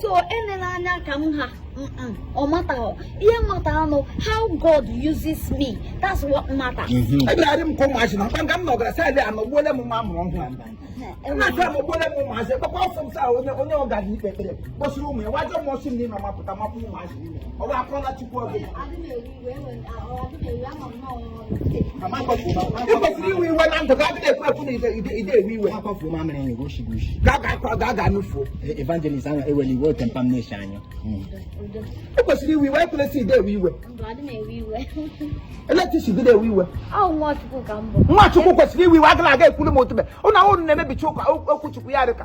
so enela anya ka m ha ọ mataghọ ihe matter nụ how God uses me that's what matter ebirarị m ka ụmụazị na nga m nọ gara side a nọgbuole m nwa a mụrụ ọhụrụ na-achọ amụgbuole m ụmụazị gbakwa ọsọ m saa onye onye ọ gara ikpe ekpere kpọsiri ụmụ ya wa ajọ mmụọ si m n'ime mapụta mapụ ụmụazị niile ọ bụ akọla Chukwu ọbụla i kwesịrị iwe iwe na ndụ gị adịghị ekwe ekwu na ide ewe iwe ga-aga nufuo evangelist ahụ ewere iwe hot temper m na-eche anya i kwesịrị iwe iwe e kwesịrị ide ewe iwe at least gị na-ewe iwe nwa Chukwu kwesịrị iwe iwe agaghị aga ekwuru m otube ụnụ ahụ na-emebicha okwu Chukwu ya dị ka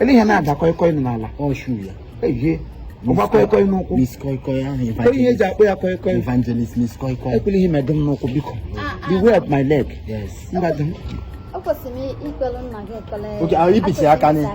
ele ihe na-ada kọịkọị nọ n'ala ọ shoe ya ehie ọ gba kọịkọị n'ụkwụ Miss Koi Koi ahụ Ele ihe e ji akpọ ya kọịkọị evangelist Miss Koi Koi ekwela ihe metụ m n'ụkwụ biko beware of my leg yes mgbadụ m ekwesịrị m ikpere nna gị ekpere oge ahụ i bichi aka n'isi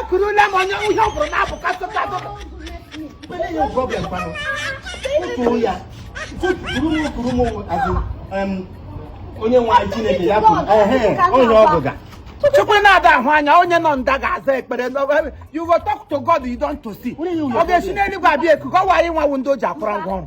ekurula m onye ihe ọ bụrụ na-abụ kasụta onye nwe anyị Chineke ya kwuru onye ọ bụga Chukwu na-ada ahụ anya onye nọ nda ga-aza ekpere you go talk to God you don't to see ọ ga-esi n'eluigwe abịa eku gọwa anyị nwa wụ ndị o ji akwụrụ ngwa ọrụ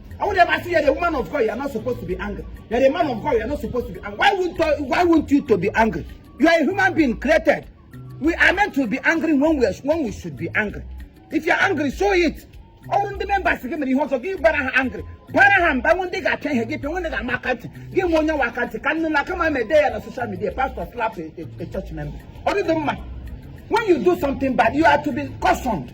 I would ever say you're a woman of God, you're not supposed to be angry. You're a man of God, you're not supposed to be angry. Why won't, you- why won't you to be angry? You are a human being created. We are meant to be angry when we, are, when we should be angry. If you're angry, show it. ọ bụrụ ndị members gị mere ihe ọjọọ gị bara ha angry bara ha mba nwee ndị ị ga-apịa ihe gị pịa nwee ndị ị ga-ama aka ntị gị nye onye nwe aka ntị ka nne na kama e dee ya na social media pastor slap a, a, a church member ọ dị mma when you do something bad you are to be cautioned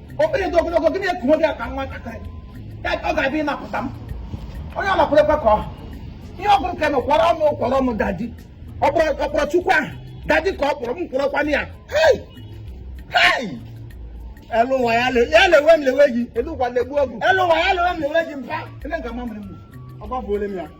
okpere dị ogologo gị na-eku nwoke ya ka nwatakịrị ọ ga-abịa ịnapụta m onye ọ nakwụrụkwa ka ọ ihe ọ bụrụ ka m kwọrọ m kwọrọ m daddy ọ kpọrọ Chukwu ahụ daddy ka ọ kpọrọ m kwụrọkwana ya elu ụwa ya lewe m lewe gị elu ụwa legbuo gị elu ụwa ya lewe m lewe gị mpa ele nke mamịrị m ọ gbafuole m ya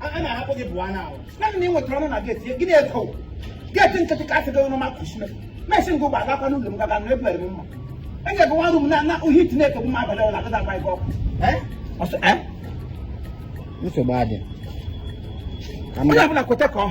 a na-ahapụ gị bụwa na ahụ naanị na ị nwetara ọnụ na gate gịnị ego gate nkịtị ka a sị gị ọnụ ma kụchime mesị ngụ gba agakwa n'ụlọ m gaga nụ ebere m mma enye gị nwa rum na na uhie heat na-ekegbu m abalị ọla agaghị agba gị ọkụ Eh? Ọsọ- eh? nsogbu adị ka m onye gaa ọbụla kweta ka ọ